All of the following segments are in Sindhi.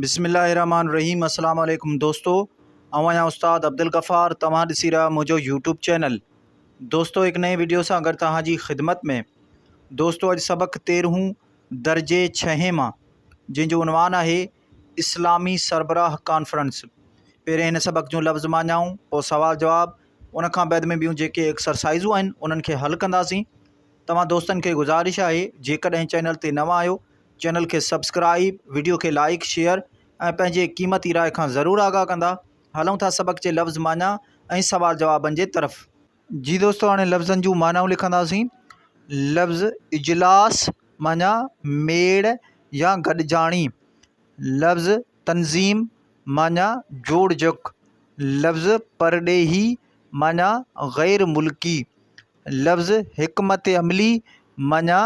بسم الله الرحمن الرحيم السلام عليڪم دوستو اوهان يا استاد عبدالغفار توهان ڏسي رهيا منهنجو يوٽيوب چينل دوستو هڪ نئين ويڊيو سان گڏ توهان جي خدمت ۾ دوستو اڄ سبق تيرهون درجي ڇهين مان جنهن جو عنوان آهي اسلامي سربراهه ڪانفرنس پهرين هن سبق جون لفظ ماڃائون پوء سوال جواب ان کان بعد ۾ ٻيون جيڪي ايڪسرسائزون آهن انهن کي حل ڪنداسين توهان دوستن کي گذارش آهي جيڪڏهن چينل تي نوان آهيو چينل کي سبسڪرائيب ويڊيو کي لائيڪ شيئر ۽ پنهنجي قيمتي راء کان ضرور آگاهه ڪندا هلون ٿا سبق جي لفظ معنيٰ ۽ سوال جوابن جي طرف. جي دوستو هاڻي لفظن جون معنائون لکنداسين لفظ اجلاس معنيٰ ميڙ يا گڏجاڻي لفظ تنظيم معنيٰ جوڙجڪ لفظ پرڏيهي معنيٰ غير ملڪي لفظ حڪمت عملي معنيٰ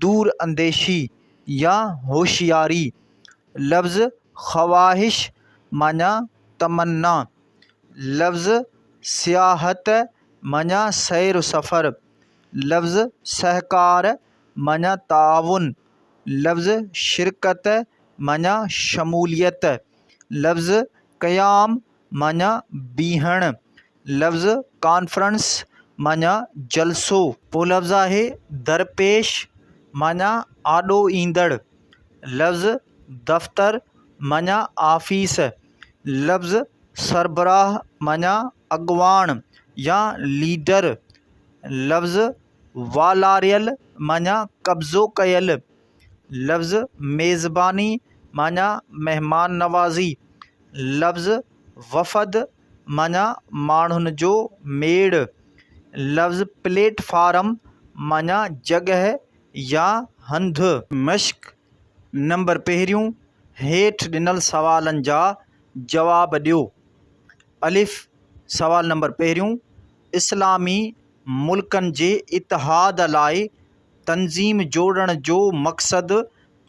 دور انديشي يا هوشياري، لفظ خواهش معنيٰ تمنا، لفظ سياحت معنيٰ سير و سفر، لفظ سهڪار معنيٰ تعاون، لفظ شرڪت معنيٰ شموليت، لفظ قيام معنيٰ بيهڻ، لفظ ڪانفرنس معني جلسو. ٻيو لفظ آهي درپيش معني آڏو ايندڙ. لفظ دفتر معني آفيس. لفظ سربراهه معني اڳواڻ يا ليڊر. لفظ والاريل معني قبضو ڪيل. لفظ ميزباني معني مهمان نوازي. لفظ وفد معنيٰ ماڻهن جو ميڙ، لفظ پليٽ فارم معنيٰ جڳهه يا هنڌ. مشق نمبر پهريون، هيٺ ڏنل سوالن جا جواب ڏيو. الف سوال نمبر پهريون، اسلامي ملڪن جي اتحاد لاء تنظيم جوڙڻ جو مقصد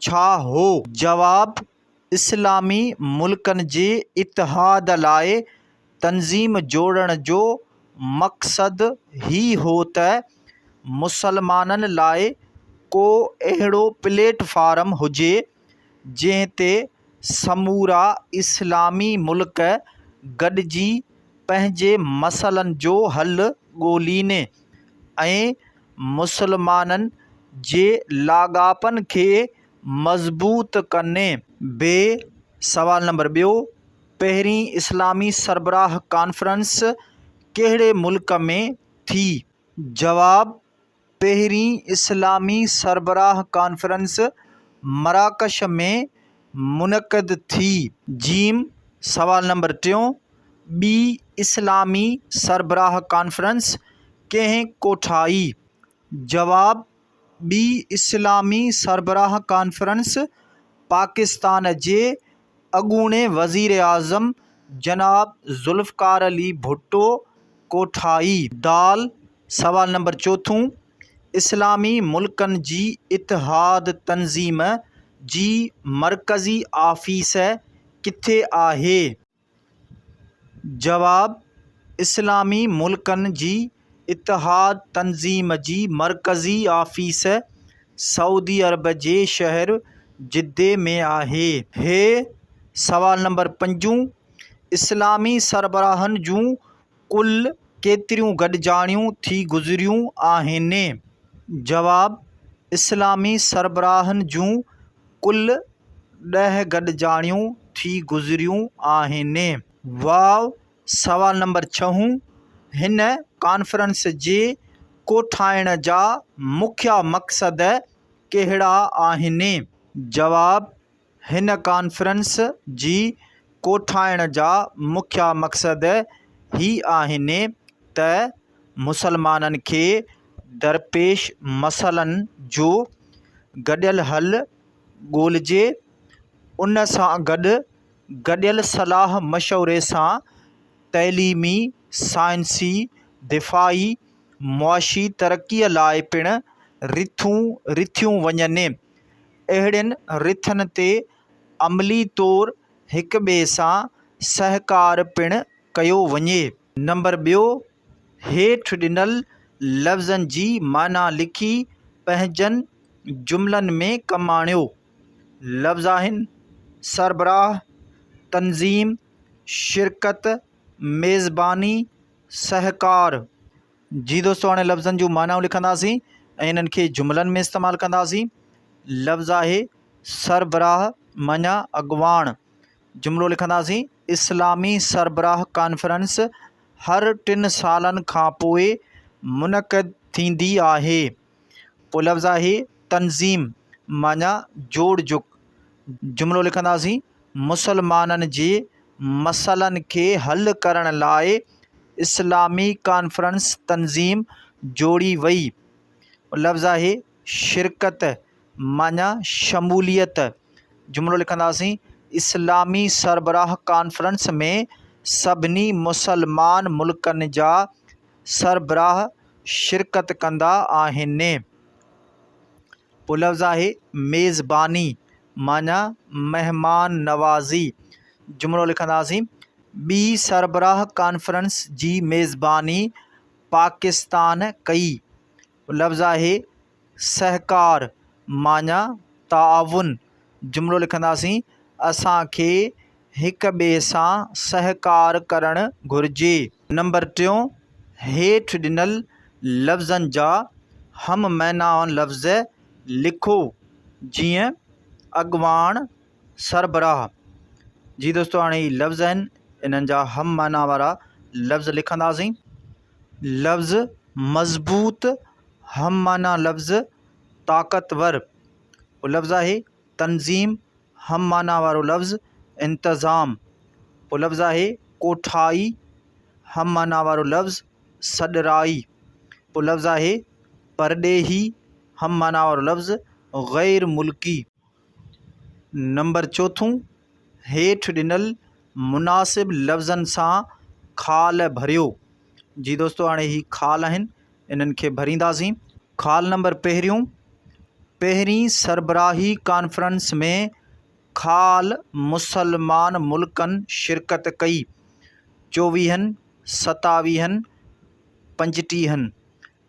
ڇا هو؟ جواب، اسلامي ملڪن جي اتحاد لاء تنظيم جوڙڻ جو مقصد هي هو ته مسلمانن لاء ڪو اهڙو پليٽ فارم هجي جنهن تي سمورا اسلامي ملڪ گڏجي پنهنجي مسئلن جو حل ڳولين ۽ مسلمانن جي لاڳاپن کي مضبوط ڪني ب سوال نمبر ٻيو پهرين اسلامي سربراهه ڪانفرنس ڪهڙي ملڪ ۾ ٿي جواب پهرين اسلامي سربراهه ڪانفرنس مراڪش ۾ منعقد ٿي ج سوال نمبر ٽيون ٻي اسلامي سربراهه ڪانفرنس ڪنهن ڪوٺائي جواب ٻي اسلامي سربراهه ڪانفرنس پاڪستان جي اڳوڻي وزيراعظم جناب ذوالفقار علي ڀٽو ڪوٺائي. د سوال نمبر چوٿون، اسلامي ملڪن جي اتحاد تنظيم جي مرڪزي آفيس ڪٿي آهي؟ جواب، اسلامي ملڪن جي اتحاد تنظيم جي مرڪزي آفيس سعودي عرب جي شهر جدي ۾ آهي. هيء سوال نمبر پنجون اسلامي سربراهن جون ڪل ڪيتريون گڏجاڻيون ٿي گذريون آهن؟ جواب، اسلامي سربراهن جون ڪل ڏهه گڏجاڻيون ٿي گذريون آهن. واء، سوال نمبر ڇهون، هن ڪانفرنس جي ڪوٺائڻ جا مکيه مقصد ڪهڙا آهن؟ جواب، هن ڪانفرنس جي ڪوٺائڻ جا مکيه مقصد هي آهن ته مسلمانن کي درپيش مسئلن جو گڏيل حل ڳولجي، ان سان گڏ گڏيل صلاح مشوري سان تعليمي، سائنسي، دفاعي، معاشي ترقي لاء پڻ رٿون رٿيون وڃن. اهڙين رٿن تي عملي طور هڪ ٻئي سان سهڪار پڻ ڪيو وڃي. نمبر ٻيو، هيٺ ڏنل لفظن جي معنيٰ لکي پنهنجن جملن ۾ ڪم آڻيو. لفظ آهن، سربراهه، تنظيم، شرڪت، ميزباني، سهڪار. جي دوستو هاڻي لفظن جون معنائون لکنداسين ۽ انهن کي جملن ۾ استعمال ڪنداسين لفظ آهي سربراهه مڃيا اڳواڻ جملو لکنداسين اسلامي سربراهه ڪانفرنس هر ٽن سالن کانپوء منعقد ٿيندي آهي پولفظا هي تنظيم معنيٰ جوڙ جڪ جملو لکنداسين مسلمانن جي مسئلن کي حل ڪرڻ لاء اسلامي ڪانفرنس تنظيم جوڙي وئي لفظا هي شرڪت معنيٰ شموليت جملو لکنداسين اسلامي سربراهه ڪانفرنس ۾ سڀني مسلمان ملڪن جا سربراهه شرڪت ڪندا آهن. پلفظ آهي ميزباني معنيٰ مهمان نوازي. جملو لکنداسين، ٻي سربراهه ڪانفرنس جي ميزباني پاڪستان ڪئي. لفظ آهي سهڪار معني تعاون جملو لکنداسين اسانکي هڪ ٻئي سان سهڪار ڪرڻ گهرجي. نمبر ٽيون، هيٺ ڏنل لفظن جا هم معنيٰ لفظ لکو جيئن اڳواڻ سربراهه جي دوستو هاڻي هي لفظ آهن انهن جا هم معنيٰ وارا لفظ لکنداسين. لفظ مضبوط هم معنيٰ لفظ طاقتور پوء لفظ آهي تنظيم هم معنيٰ وارو لفظ انتظام پوء لفظ آهي ڪوٺائي هم معنيٰ وارو لفظ سڏرائي پوء لفظ آهي پرڏيهي هم معنيٰ وارو لفظ غير ملڪي نمبر چوٿون، هيٺ ڏنل مناسب لفظن سان خال ڀريو. جي دوستو هاڻي هي خال آهن انهن کي ڀرينداسين. خال نمبر پهريون، پهرين سربراهي ڪانفرنس ۾ خال مسلمان ملڪن شرڪت ڪئي، چوويهن، ستاويهن، پنجٽيهن.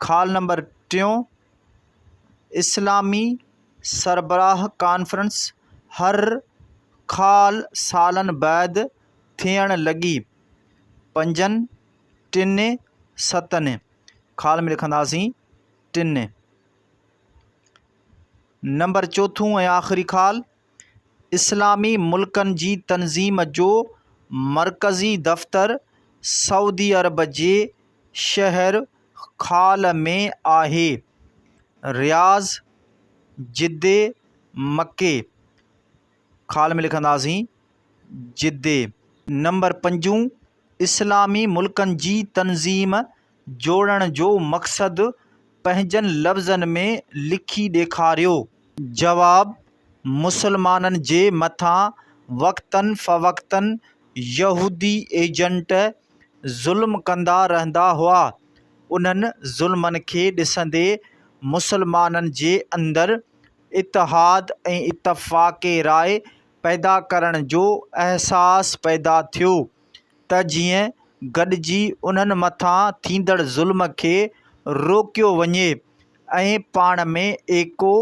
خال نمبر ٽيون، اسلامي سربراهه ڪانفرنس هر خال سالن بعد ٿيڻ لڳي. پنجن، ٽن، ستن، خال ۾ لکنداسين ٽن. نمبر چوٿون ۽ آخري خال. اسلامي ملڪن جي تنظيم جو مرڪزي دفتر سعودي عرب جي شهر خال ۾ آهي. رياض، جدي، مڪي، خال ۾ لکنداسين جدي، نمبر پنجون اسلامي ملڪن جي تنظيم جوڙڻ جو مقصد پنهنجن لفظن ۾ لکي ڏيکاريو. جواب، مسلمانن جي مٿان وقتاً فوقتاً يهودي ايجنٽ ظلم ڪندا رهندا هئا. انهن ظلمن کي ڏسندي مسلمانن جي اندر اتحاد ۽ اتفاق راء پيدا ڪرڻ جو احساس پيدا ٿيو. ته جيئن گڏجي انهن مٿان ٿيندڙ ظلم کي روڪيو وڃي ۽ پاڻ ۾ ايڪو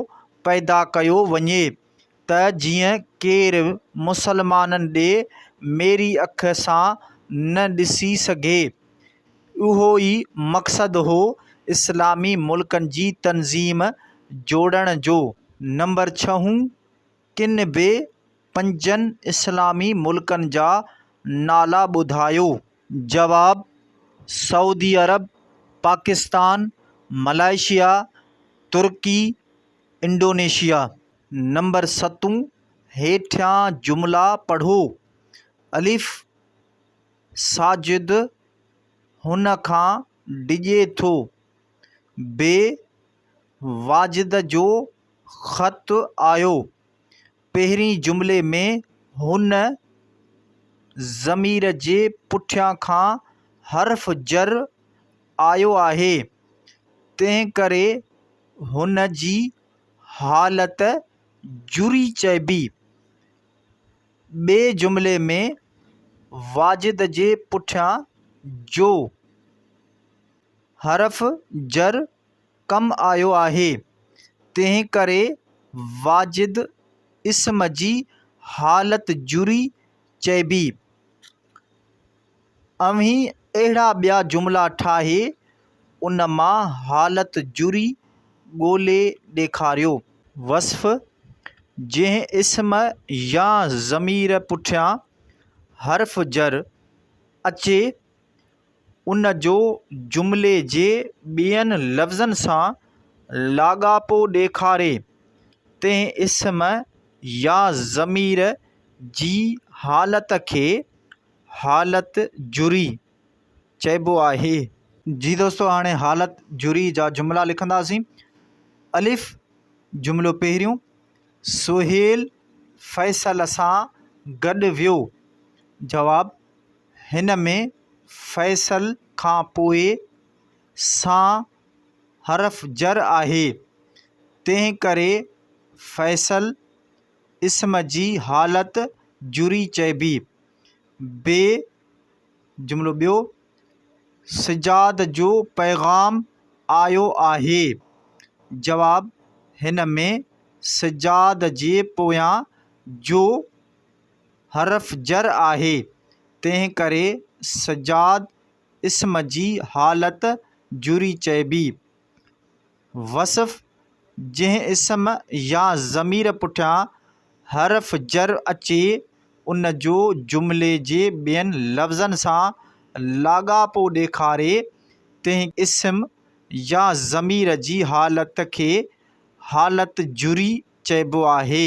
پيدا ڪيو وڃي ته جيئن ڪير مسلمانن ڏي ميري اک سان نه ڏسي سگهي. اهو ئي مقصد هو اسلامي ملڪن جي تنظيم جوڙڻ جو. نمبر ڇهون. ڪن به پنجن اسلامي ملڪن جا نالا ٻڌايو. جواب، Saudi Arab, Pakistan, Malaysia, Turkey, Indonesia. Number ستون، هيٺيان جملا پڙهو، الف، ساجد هن کان ڊڄي ٿو، بي، واجد جو خط آيو. پهرين جملي ۾ هن ضمير جي پٺيان کان حرف جر آيو آهي، تنهن ڪري هن جي حالت جري چئبي. ٻئي جملي ۾ واجد جي پٺيان جو حرف جر ڪم آيو آهي، تنهنڪري واجد اسم جي حالت جري چئبي. اوهين اهڙا ٻيا جملا ٺاهي ان مان حالت جري ڳولي ڏيکاريو. وصف، جنهن اسم يا ضمير پٺيان حرف جر اچي. ان جو جملي جي ٻين لفظن سان لاڳاپو ڏيکاري تنهن اسم يا ضمير جي حالت کي حالت جري چئبو آهي. جي دوستو هاڻي حالت جري جا جملا لکنداسين. الف جملو پهريون، سهيل فيصل سان گڏ ويو. جواب، هن ۾ فيصل کان پوء سان حرف جر آهي، تنهن ڪري فيصل اسم جي حالت جري چئبي. بي جملو ٻيو، سجاد جو پيغام آيو آهي. جواب، هن ۾ سجاد جي پويان جو حرف جر آهي، تنهن ڪري سجاد اسم جي حالت جري چئبي. وصف، جنهن اسم يا ضمير پٺيان حرف جر اچي، ان جو جملي جي ٻين لفظن سان لاڳاپو ڏيکاري، تنهن اسم يا ضمير جي حالت کي حالت جري چئبو آهي.